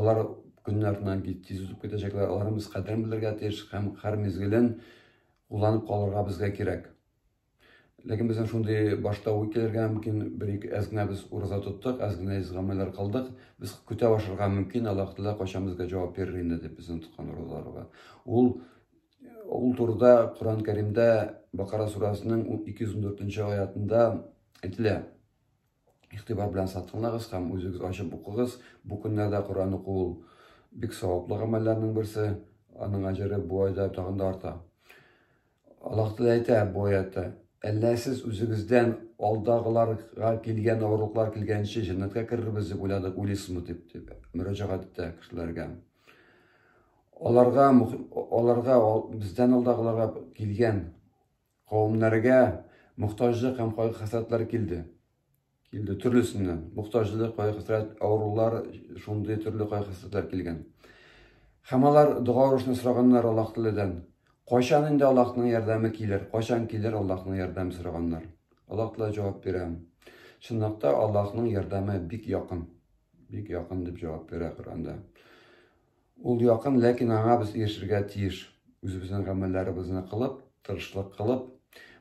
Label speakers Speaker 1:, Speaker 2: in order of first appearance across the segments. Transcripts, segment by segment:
Speaker 1: Алар көннәреннән кит тиз узып китәчәкләр, аларның без кадерен белергә тиеш һәм һәр мизгелен кулланып калырга безгә кирәк. Ләкин безнең шундый башта уй килергә мөмкин, бер ике әз генә без ураза тоттык, әз генә из гамәлләр кылдык, без көтә башырга мөмкин, Аллаһ Тәгалә кайчан безгә җавап бирер инде дип безнең тоткан уразаларга. Ул ул турыда Коръән Кәримдә Бакара сүрәсенең 214 нче аятында әйтелә. Игътибар белән сатыңлагыз һәм үзегез ачып укыгыз. Бу көннәрдә Коръән уку ул бик саваплы гамәлләрнең берсе, аның әҗере бу айда тагын да арта. Аллаһ Тәгалә әйтә бу аятта, Әллә сез үзегездән алдагыларга килгән авырлыклар килгәнче җәннәткә керербез дип уйладык, уйлыйсызмы дип, дип мөрәҗәгать итә кешеләргә. Аларга, аларга, бездән алдагыларга килгән Кавемнәргә мохтаҗлык һәм кайгы-хәсрәтләр килде. Килде төрлесеннән. Мохтаҗлык, кайгы-хәсрәт, авырулар, шундый төрле кайгы-хәсрәтләр килгән. Һәм алар дога урышны сораганнар Аллаһ Тәгаләдән. Кайчан инде Аллаһның ярдәме килер? Кайчан килер Аллаһның ярдәме сораганнар. Аллаһ Тәгалә җавап бирә. Чынлыкта Аллаһның ярдәме бик якын. Бик якын дип җавап бирә Коръәндә. Ул якын, ләкин аңа без ирешергә тиеш. Үзебезнең гамәлләребезне кылып, тырышлык кылып.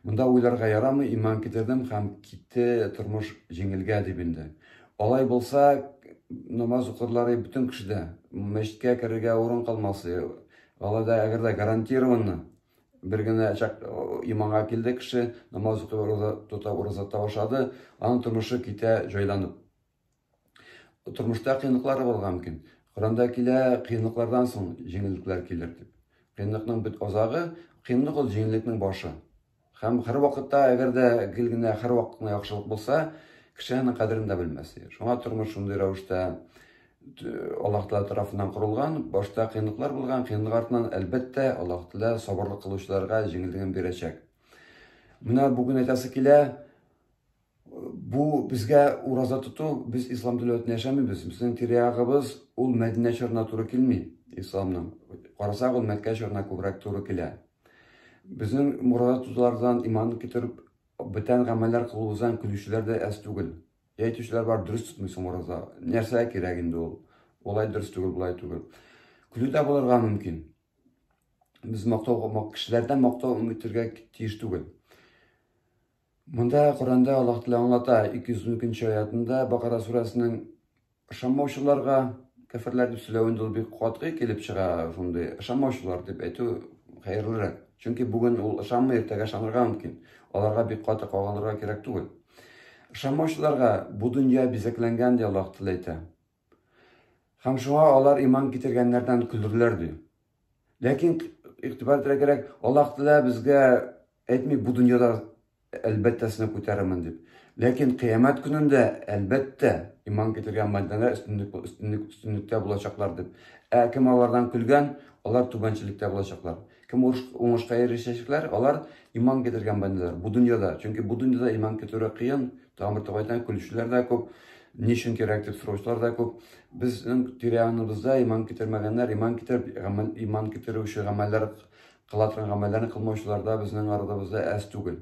Speaker 1: Монда уйларга ярамый, иман китердем һәм китте тормыш җиңелгә дип инде. Алай булса, намаз укырлары бөтен кешедә, мәчеткә керергә урын калмасы. Алай да әгәр дә гарантированно бер генә чак иманга килде кеше, намаз укып, роза тота, роза тавышады, аның тормышы китә җайланып. Тормышта кыенлыклар булырга мөмкин. Коранда килә, кыенлыклардан соң җиңеллекләр килер дип. Кыенлыкның бит азагы, кыенлык ул җиңеллекнең башы. Һәм һәр вакытта, әгәр дә гел генә һәр вакытына яхшылык булса, кеше аның кадерен дә белмәс. Шуңа тормыш шундый рәвештә Аллаһ Тәгалә тарафыннан корылган, башта кыенлыклар булган, кыенлык артыннан, әлбәттә, Аллаһ Тәгалә сабырлык кылучыларга җиңеллеген бирәчәк. Менә бүген әйтәсе килә, Бу безгә ураза тоту, без ислам дәүләтендә яшәмибез. Безнең тирә-ягыбыз ул Мәдинә чорына туры килми, исламның. Карасак, ул Мәккә чорына күбрәк туры килә. Безнең ураза тотулардан иман китереп, бүтән гамәлләр кылуыбыздан көлүчеләр дә әз түгел. Әйтүчеләр бар, дөрес тотмыйсың ураза. Нәрсә кирәк инде ул? Болай дөрес түгел, болай түгел. Көлү дә булырга мөмкин. Без мактау, кешеләрдән мактау үтергә тиеш түгел. Монда Коръәндә Аллаһ Тәгалә аңлата, 212 нче аятында Бакара сүрәсенең ышанмаучыларга кәферләр дип сөйләвендә ул бик катгый килеп чыга, шундый ышанмаучылар дип әйтү хәерлерәк. Чөнки бүген ул ышанмый, иртәгә ышанырга мөмкин. Аларга бик каты кагылырга кирәк түгел. Ышанмаучыларга бу дөнья бизәкләнгән, ди Аллаһ Тәгалә әйтә. Һәм шуңа алар иман китергәннәрдән көлерләр, ди. Ләкин игътибар итәргә кирәк, Аллаһ Тәгалә безгә әйтми бу дөньяда әлбәттә сезне күтәрермен дип. Ләкин кыямәт көнендә әлбәттә иман китергән мәдәнә өстенлек өстенлек өстенлектә булачаклар дип. Ә кем алардан көлгән, алар түбәнчелектә булачаклар. Кем уңышка ирешәчәкләр, алар иман китергән бәндәләр бу дөньяда. Чөнки бу дөньяда иман китерү кыен, Тамыр тугайдан көлүчеләр дә күп, ни өчен кирәк дип сораучылар да күп. Безнең тирә-яныбызда иман китермәгәннәр, иман китереп, гамәл, иман китерүче гамәлләр кыла торган гамәлләрне кылмаучылар да безнең арабызда әз түгел.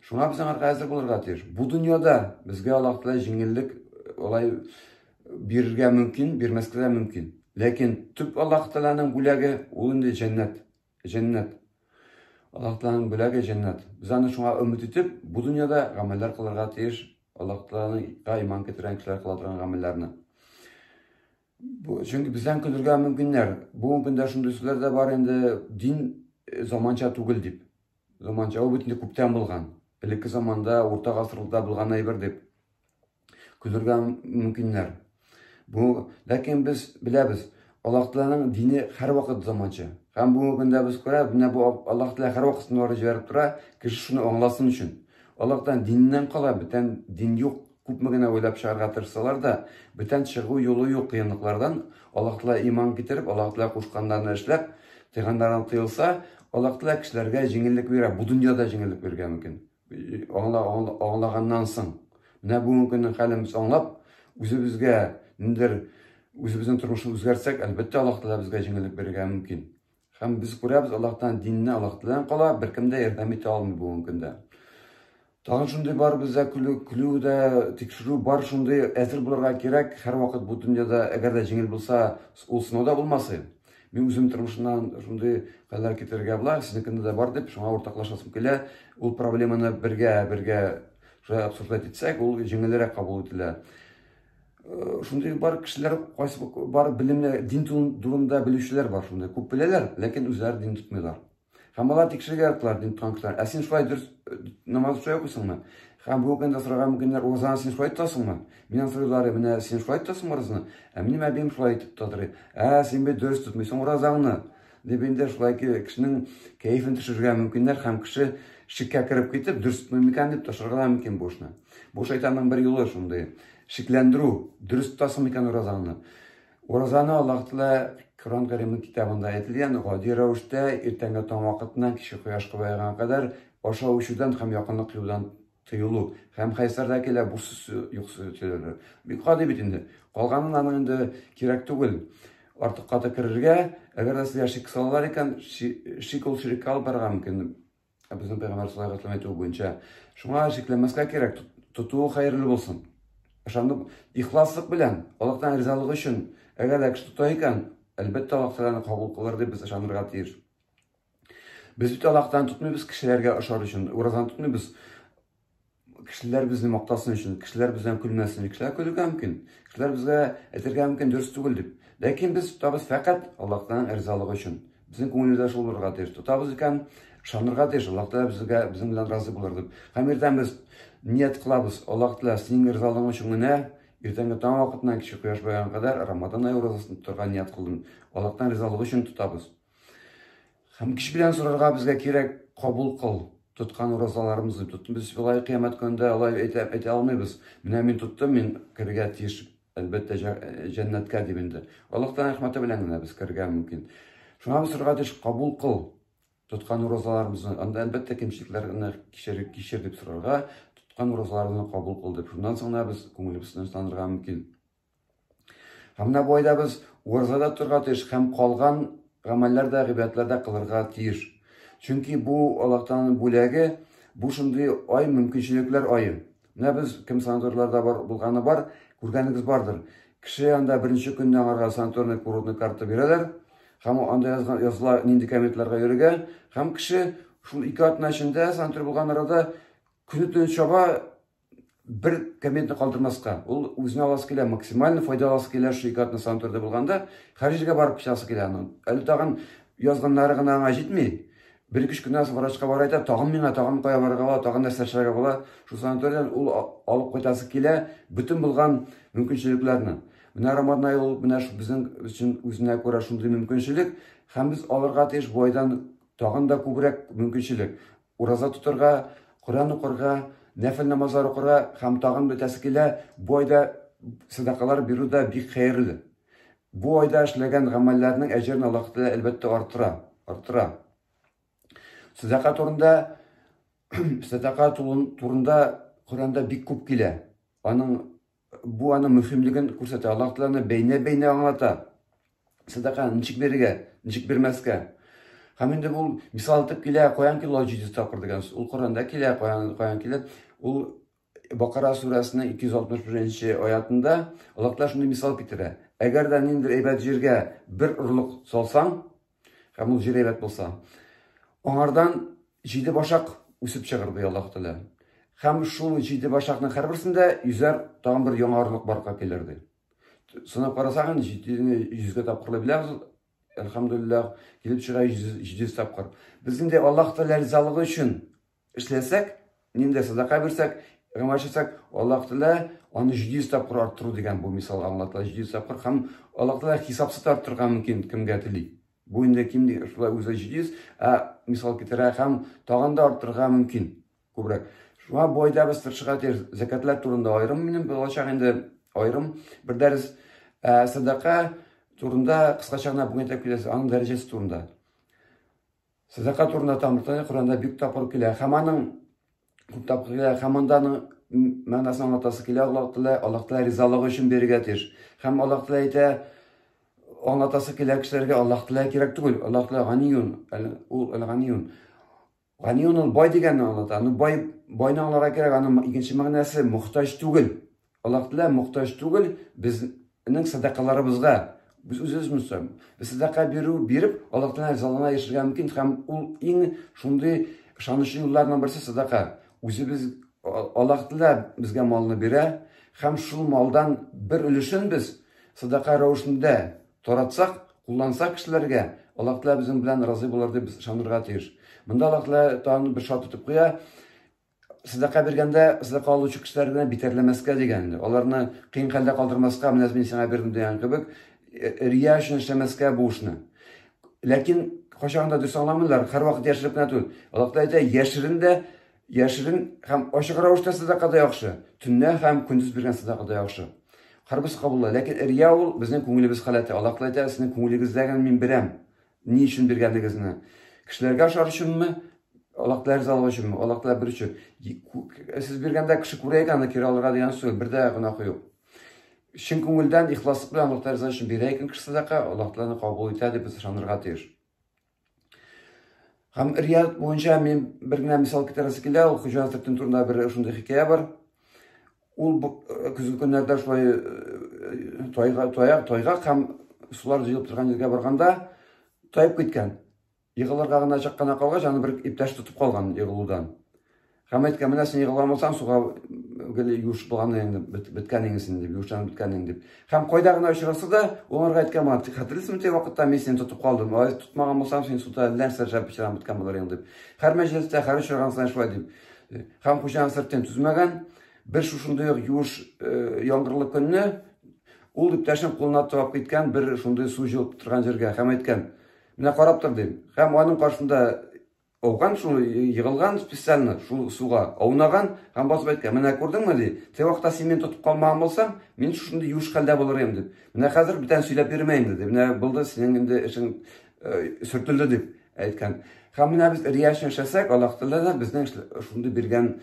Speaker 1: Шуңа без аңарга әзер булырга тиеш. Бу дөньяда безгә Аллаһ Тәгалә җиңеллек алай э, э, бирергә мөмкин, бирмәскә дә мөмкин. Ләкин төп Аллаһ Тәгаләнең бүләге ул инде җәннәт. Җәннәт. Аллаһ Тәгаләнең бүләге җәннәт. Без аны шуңа өмет итеп, бу дөньяда гамәлләр кылырга тиеш, Аллаһ Тәгаләгә иман китергән кешеләр кыла торган гамәлләрне. Чөнки бездән көлергә мөмкиннәр. Бүгенге көндә шундый сүзләр дә бар инде, дин э, заманча түгел дип. Заманча ул бит инде күптән булган. Элекке заманда, урта гасырларда булган әйбер дип. Көлергә мөмкиннәр. Бу, ләкин без беләбез, Аллаһ Тәгаләнең дине һәрвакыт заманча. Һәм бүгенге көндә без күрәбез, менә бу Аллаһ Тәгалә һәрвакыт сынаулар җибәреп тора, кеше шуны аңласын өчен. Аллаһ Тәгалә диннән кала, бүтән дин юк. Күпме генә уйлап чыгарга тырышсалар да, бүтән чыгу юлы юк кыенлыклардан. Аллаһ Тәгалә иман китереп, Аллаһ Тәгалә кушканнарны эшләп, тыйганнардан тыелса, Аллаһ Тәгалә кешеләргә җиңеллек бирә, бу дөньяда җиңеллек бирергә мөмкин. аңла, аңла, аңлаганнан соң, менә бүгенге көннең хәлен без аңлап, үзебезгә ниндер үзебезнең тормышны үзгәртсәк, әлбәттә, Аллаһ Тәгалә безгә җиңеллек бирергә мөмкин. Һәм без күрәбез, Аллаһтан динне Аллаһ Тәгаләдән кала, беркем дә ярдәм итә алмый бүгенге көндә. Тагын шундый бар бездә көлү, көлү дә, тикшерү бар шундый, әзер булырга кирәк, һәрвакыт бу дөньяда, әгәр дә җиңел булса, ул сынау да булмасы. Мин үзем тормышымнан шундый хәлләр китерергә була, сезнекендә дә бар дип, шуңа уртаклашасым килә. Ул проблеманы бергә, бергә шулай обсуждать итсәк, ул җиңелрәк кабул ителә. Э, шундый бар кешеләр, кайсы бар белемле, дин турында белүчеләр бар шундый. Күп беләләр, ләкин үзләре дин тотмыйлар. Һәм алар тикшерергә яттылар дин тоткан кешеләр. Ә син шулай дөрес э, намаз шулай укыйсыңмы? Һәм бу көндә сораган мөмкиннәр уразаны син шулай тотасыңмы? Миннән сорыйлар, менә син шулай тотасыңмы уразаны? Ә минем әбием шулай итеп тотыр. Ә син бит дөрес тотмыйсың уразаңны. Дип инде шулай кешенең кәефен төшерергә мөмкиннәр һәм кеше шиккә кереп китеп, дөрес тотмыйм икән дип ташырга мөмкин бу эшне. Бу шайтанның бер юлы шундый. Шикләндерү, дөрес тотасың икән уразаңны. Уразаны Аллаһтла Коран Кәримнең китабында әйтелгән гади рәвештә иртәнге таң вакытыннан кичке кояш кызайганга кадәр ашау эчүдән һәм якынлык кыюдан тыелу һәм хәйсәрдә килә бу йокысы төшерелер. Бик гади бит инде. Калганын аның инде кирәк түгел. Артык каты керергә, әгәр дә сиңа шик салалар икән, шик ул ширеккә алып барырга мөмкин. Ә безнең пәйгамбәр шулай гыслам әйтүе буенча, шуңа шикләнмәскә кирәк, тотуы хәерле булсын. Ышанып, ихласлык белән, Аллаһтан ризалык өчен, әгәр дә кеше тота икән, әлбәттә, Аллаһ Тәгаләне кабул кылыр дип без ышанырга тиеш. Без бит Аллаһтан тотмыйбыз кешеләргә ошар өчен, уразаны тотмыйбыз. Кешеләр безне мактасын өчен, кешеләр бездән көлмәсен өчен, кешеләр көлергә мөмкин, кешеләр безгә әйтергә мөмкин дөрес түгел дип. Ләкин без тотабыз фәкать Аллаһтан ризалык өчен. Безнең күңелебездә шул булырга тиеш. Тотабыз икән, ышанырга тиеш, Аллаһ Тәгалә безгә безнең белән разый булыр дип. Һәм иртән без ният кылабыз, Аллаһ Тәгалә, синең ризалыгың өчен генә иртәнге таң вакытыннан кичке кояш баеганга кадәр Рамадан ае уразасын тотарга ният кылдым. Аллаһтан ризалык өчен тотабыз. Һәм кеше белән сорарга безгә кирәк, кабул кыл, тоткан уразаларымызны тот. Без вилай кыямәт көнендә алай әйтә, әйтә алмыйбыз. Менә мин тоттым, мин керергә тиеш, әлбәттә, җәннәткә дип инде. Аллаһтан рәхмәте белән генә без керергә мөмкин. Шуңа без сорарга тиеш, кабул кыл, тоткан уразаларымызны. Анда әлбәттә кимчелекләрне кичер, кичер дип сорарга, тоткан уразаларны кабул кыл дип. Шуннан соң да без күңелебезне тынычландырырга мөмкин. Һәм менә бу айда без уразада торырга тиеш һәм калган гамәлләр дә, гыйбадәтләр дә кылырга тиеш. Чөнки бу Аллаһтан бүләге, бу шундый ай мөмкинчелекләр ае. Менә без кем санаторийларда бар булганы бар, күргәнегез бардыр. Кеше анда беренче көнне аңарга санаторный курортный карта бирәләр һәм анда язган языла нинди комитетларга йөрергә һәм кеше шул ике атна эчендә санаторий булган арада көне төне чаба бер комментны калдырмаска, ул үзенә аласы килә, максимально файдаласы килә шул ике атна санаториядә булганда, Харижгә барып кичасы килә аның. Әле тагын язганнары гына аңа җитми. Бер кеш кенә врачка бара әйтә, тагын миңа, тагын кая барырга була, тагын нәрсә эшләргә була. Шул санаториядән ул алып кайтасы килә бөтен булган мөмкинчелекләрне. Менә Роман ай ул менә шул безнең өчен үзенә күрә шундый мөмкинчелек, һәм без алырга тиеш бу айдан тагын да күбрәк мөмкинчелек. Ураза тотырга, Коръән укырга, нәфел намазлар укырга һәм тагын бетәсе килә, бу айда сәдакалар бирү дә бик хәерле. Бу айда эшләгән гамәлләрнең әҗерен Аллаһ Тәгалә әлбәттә арттыра, арттыра. Сәдака турында сәдака турында Коръәндә бик күп килә. Аның Бу аның мөһимлеген күрсәтә. Аллаһ Тәгаләне бәйнә-бәйнә аңлата. Сәдаканы ничек бирергә, ничек бирмәскә. Һәм инде ул мисал итеп килә, каян килә ул 700 тапкыр дигән. Ул Коранда килә, каян, каян килә. Ул Бакара сүрәсенең 261-нче аятында Аллаһ Тәгалә шундый мисал китерә. Әгәр дә ниндидер әйбәт җиргә бер орлык салсаң, Һәм ул җир әйбәт булса. Аңардан җиде башак үсеп чыгыр, ди Аллаһ Тәгалә. Һәм шул җиде башакның һәрберсендә йөзәр тагын бер яңарылык барга килер, ди. Сынап карасаң, җитене йөзгә тапкырлый беләбез. Әлхәмдулиллах, килеп чыга 700 тапкыр. Без инде Аллаһ Тәгалә ризалыгы өчен Эшләсәк, нинди садака бирсәк, гамәл итсәк, Аллаһ Тәгалә аны 700 тапкыр арттыру дигән бу мисал аңлатыла. 700 тапкыр һәм Аллаһ Тәгалә хисапсыз арттырырга мөмкин кемгә тели. Бу инде ким шулай үзе 700, ә мисал китерә һәм тагын да арттырырга мөмкин күбрәк. Шуңа бу айда без тырышырга тиеш. Закатлар турында аерым минем булачак инде аерым бер дәрес. Ә садака турында кыскача гына бүген әйтеп китәсе, аның дәрәҗәсе турында. Сәдака турында Тамыртай Коранда бик тапкыр килә. Һәм аның күп тапкыр килә, һәм монда аның мәгънәсен аңлатасы килә, Аллаһ Тәгалә, Аллаһ Тәгалә ризалыгы өчен бирергә тиеш. Һәм Аллаһ Тәгалә әйтә, аңлатасы килә кешеләргә, Аллаһ Тәгалә кирәк түгел, Аллаһ Тәгалә ганиюн, ул ганиюн. Ганиюн ул бай дигәнне аңлата. Аны бай, байны аңларга кирәк, аның икенче мәгънәсе мохтаҗ түгел. Аллаһ Тәгалә мохтаҗ түгел безнең садакаларыбызга. Без үзебез мөстәм. Без садака бирү биреп, Аллаһ Тәгалә ризалыгына яшәргә мөмкин һәм ул иң шундый ышанычлы юлларның берсе садака. Үзебез Аллаһ Тәгалә безгә малны бирә һәм шул малдан бер өлешен без садака рәвешендә таратсак, куллансак кешеләргә, Аллаһ Тәгалә безнең белән разый булыр дип без ышанырга тиеш. Монда Аллаһ Тәгалә тагын бер шарт итеп куя, садака биргәндә садака алучы кешеләр генә битәрләмәскә дигән инде. Аларны кыен хәлдә калдырмаска, менә мин сиңа бирдем дигән кебек, э, рия өчен эшләмәскә бу эшне. Ләкин кайчан да дөрес аңламыйлар, һәрвакыт яшереп кенә түгел. Аллаһ әйтә, яшерен дә, яшерен һәм ачык рәвештә садака да яхшы, төнлә һәм көндез биргән садака да яхшы. Хәрбис кабулла, ләкин рия ул безнең күңелебез халәте. Аллаһ әйтә, сезнең күңелегездә генә мин бирәм. Ни өчен биргәнегезне. Кешеләргә ашар өченме? Аллаһ Тәгалә ризалыгы өченме? Аллаһ Тәгалә бер өчен. Сез биргәндә кеше күрә икән, аны кире алырга дигән сүз, бер дә гөнаһы юк. Чын күңелдән ихласлык белән Аллаһ Тәгалә өчен бирә икән кеше садака, Аллаһ Тәгалә кабул итә дип без ышанырга тиеш. Һәм рият буенча мин бер генә мисал китерәсе килә, ул Хуҗа хәзрәтен турында бер шундый хикәя бар. Ул бу көзге көннәрдә шулай тайга тая, тайга һәм сулар җыелып торган җиргә барганда тайып киткән. Егылырга гына чак кына калгач, аны бер иптәш тотып калган егылудан. Һәм әйткән, менә син егыла алмасаң, суга гел юш булган инде, беткән инде, дип, юшан беткән инде, дип. Һәм кайда гына очраса да, уларга әйткән булган, тик хәтерлисеңме, теге вакытта мин сине тотып калдым, ай, тотмаган булсам, син суда нәрсә шәп пычран беткән булыр инде, дип. Һәр мәҗлестә, һәр очраган саен шулай дип. Хәм хуҗаның сыртын түзмәгән, бер шушындый ук юш э, яңгырлы көнне ул иптәшен кулына тыгып киткән бер шундый су җылып торган җиргә хәм әйткән, менә карап тор дим. Хәм аның каршында ауган шул егылган специально шул суга аунаган һәм басып әйткән, менә күрдеңме ди, теге вакытта син мине тотып калмаган булсаң, мин шушындый юш хәлдә булыр идем дип. Менә хәзер бүтән сөйләп йөрмә инде ди. Менә булды синең инде эшең сөртелде дип әйткән. Һәм менә без рияш яшәсәк, Аллаһ Тәгалә дә безнең шундый биргән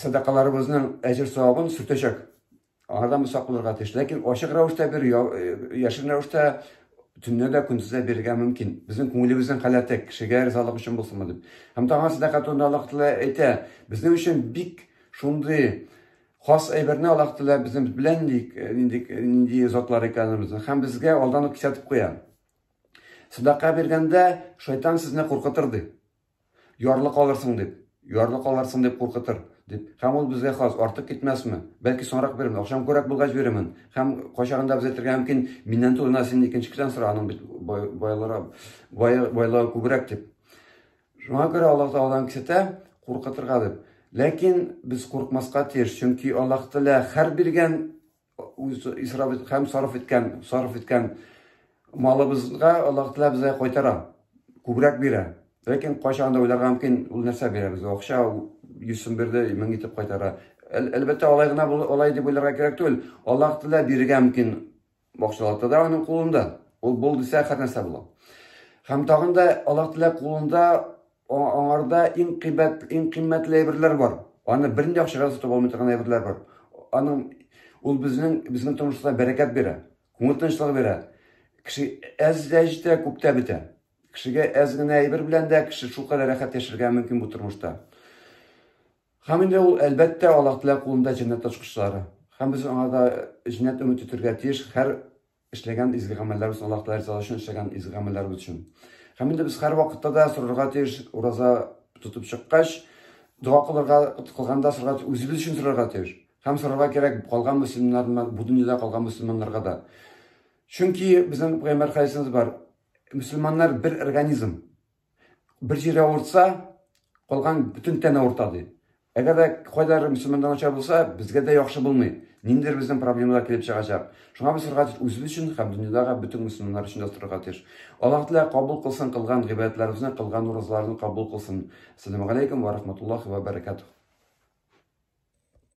Speaker 1: сәдакаларыбызның әҗер савабын сүтәчәк. Аңардан без сак булырга тиеш. Ләкин ачык рәвештә бер, яшен рәвештә төнне дә көндез дә бирергә мөмкин. Безнең күңелебезнең халәте кешегә ризалык өчен булсынмы дип. Һәм таңга сәдака турында Аллаһ Тәгалә әйтә, безнең өчен бик шундый Хас әйберне Аллаһ Тәгалә безнең белән ник нинди нинди затлар икәнебезне һәм безгә алдан ук кисәтеп куя. Садака биргәндә шайтан сезне куркытыр ди. Ярлы калырсың дип, ярлы калырсың дип куркытыр дип. Һәм ул безгә хас артык китмәсме? Бәлки соңрак бирермен, акчам күбрәк булгач бирермен. Һәм кайчагында без әйтергә мөмкин, миннән турына син икенче кешедән сора, аның бит байлары байлыгы күбрәк дип. Шуңа күрә Аллаһ Тәгаләнең кесәтә куркытырга дип. Ләкин без куркмаска тиеш, чөнки Аллаһ Тәгалә хәр биргән исраф ит, һәм сарыф иткән, сарыф иткән малыбызга Аллаһ Тәгалә безгә кайтара, күбрәк бирә. Ләкин кайчан да уйларга мөмкин, ул нәрсә бирә безгә? Акча 100 сум бирде, 1000 итеп кайтара. Әлбәттә, алай гына алай дип уйларга кирәк түгел. Аллаһ Тәгалә бирергә мөмкин Бакчалата да аның кулында. Ул бул дисә хәрнәсә була. Һәм тагын да Аллаһ Тәгалә кулында аңарда иң кыйбат, иң кыйммәтле әйберләр бар. Аны бер нинди акчага сатып алмый торган әйберләр бар. Аның ул безнең безнең тормышта бәрәкәт бирә, күңел тынычлыгы бирә. Кеше әз дә җитә, күп тә бетә. Кешегә әз генә әйбер белән дә кеше шул кадәр рәхәт яшәргә мөмкин бу тормышта. Һәм инде ул, әлбәттә, Аллаһ Тәгалә кулында җәннәт ачкычлары. Һәм без аңа да җәннәт өмет итәргә тиеш һәр эшләгән изге гамәлләребез, Аллаһ Тәгалә ризалыгы өчен эшләгән изге гамәлләребез өчен. Һәм инде без һәрвакытта да сорарга тиеш, ураза тотып чыккач, дога кылырга кылганда сорарга тиеш, үзебез өчен сорарга тиеш. Һәм сорарга кирәк калган мөселманнар, бу дөньяда калган мөселманнарга да. Чөнки безнең пәйгамбәр хәдисебез бар, мөселманнар бер организм. Бер җире авыртса, калган бөтен тән авырта ди. Әгәр дә кайдадыр мөселманда начар булса, безгә дә яхшы булмый. Ниндидер безнең проблемалар килеп чыгачак. Шуңа без сырга тиеш үзебез өчен һәм дөньядагы бөтен мөселманнар өчен дә сырга тиеш. Аллаһ Тәгалә кабул кылсын кылган гыйбадәтләребезне, кылган уразаларны кабул кылсын. Сәләмәгаләйкүм вә рахматуллахи вә бәрәкәтүһ.